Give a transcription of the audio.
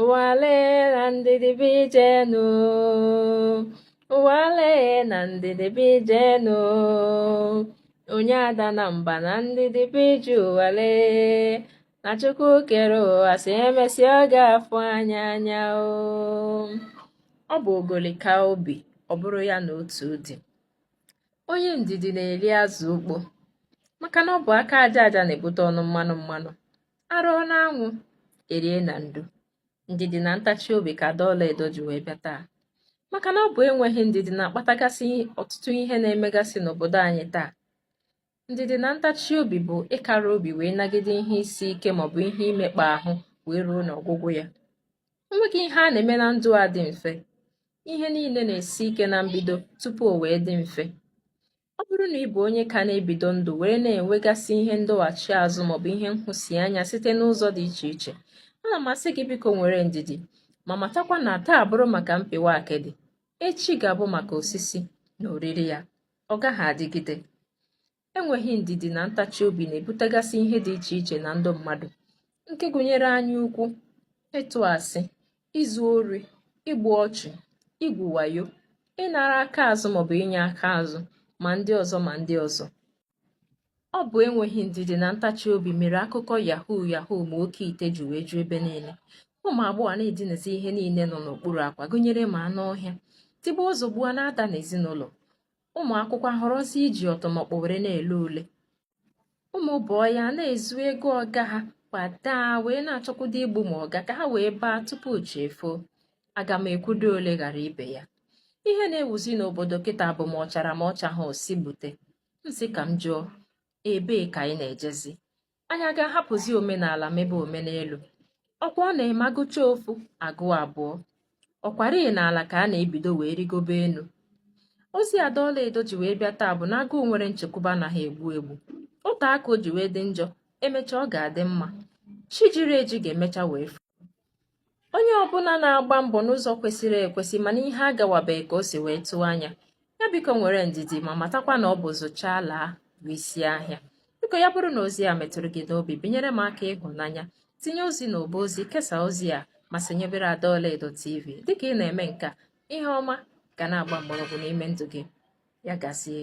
ụwa le na ndidi bụ ije nu ụwa le na ndidi bụ ije nu onye adana mba na ndidi bụ ije ụwa le na chukwu kere ụwa sị emesịa ọ ga-afụ anya anya o ọ bụ ogoli kaa obi ọ bụrụ ya na otu di onye ndidi na-eri azụ ukpo maka na ọ bụ aka aja aja na-ebute ọnụ mmanụ mmanụ arụọ n'anwụ erie na ndo ndidi na ntachi obi ka ada ọlaedo ji wee bịa taa maka na ọ bụ enweghị ndidi na-akpatagasị ọtụtụ ihe na-emegasị n'obodo anyị taa ndidi na ntachi obi bụ ịkara obi wee nagide ihe isi ike maọbụ ihe imekpa ahụ wee ruo n'ọgwụgwụ ya enweghị ihe a na-eme na ndụ a dị mfe ihe niile na-esi ike na mbido tupu o wee dị mfe Ọ bụrụ na ị bụ onye ka na-ebido ndụ were na-enwegasị ihe ndọghachi azụ maọbụ ihe nhụsianya site n'ụzọ dị iche iche, ana m asị gị biko nwere ndidi, ma matakwa na taa bụrụ maka mpịwa akịdị, echi ga-abụ maka osisi na oriri ya, ọ gaghị adịgide. Enweghị ndidi na ntachi obi na-ebutegasị ihe dị iche iche na ndụ mmadụ, nke gụnyere anyaukwu, ịtụ asị, izu ori igbu ọchụ igwu wayo ịnara aka azụ maọbụ inye aka azụ ma ndị ọzọ ma ndị ọzọ ọ bụ enweghị ndidi na ntachi obi mere akụkọ yahoo yahoo ma oke ite ji wee ju ebe niile ụmụ agbọghọ na-edinazi ihe niile nọ n'okpuru akwa gụnyere ma anụ ọhịa tigbuo zọgbuo na-ada n'ezinụlọ ụmụ akwụkwọ ahọrọzi iji ọtụmọkpọ were na-ele ule ụmụ boy ana-ezu ego ọga ha kwadaa wee na-achọkwudo igbu ma ọga ka ha wee baa tupu chi efoo aga m ekwudo ole ghara ibe ya ihe na-ewuzi n'obodo kịta bụ ma ọ chara ma ọ chaha ọ sị gbute m sị ka m jụọ ebee ka anyị na-ejezi anyị aga-ahapụzi omenala mebe omenelu ọkwa ọ na-eme agụchaa ofu agụọ abụọ ọkwarị n'ala ka a na-ebido wee rigobe enu ozi ada ọlaedo ji wee bịa taa bụ na agụụ nwere nchekwube anaha egbu egbu ọ taa ka o ji wee dị njọ emechaa ọ ga-adị mma chi jiri eji ga-emecha wee foo onye ọbụla na-agba mbọ n'ụzọ kwesịrị ekwesị mana ihe agawabeghị ka o si wee tụọ anya ya biko nwere ndidi ma matakwa na ọ bụ zụchaa laa bụ isi ahịa biko ya bụrụ na ozi a metụrụ gị n'obi binyere m aka ịhụnanya tinye ozi n'ọba ozi kesaa ozi a ma sonyebere ada ọlaedo tv dịka ị na-eme nke a ihe ọma ga na-agba mgbọrọgwụ n'ime ndụ gị ya gazie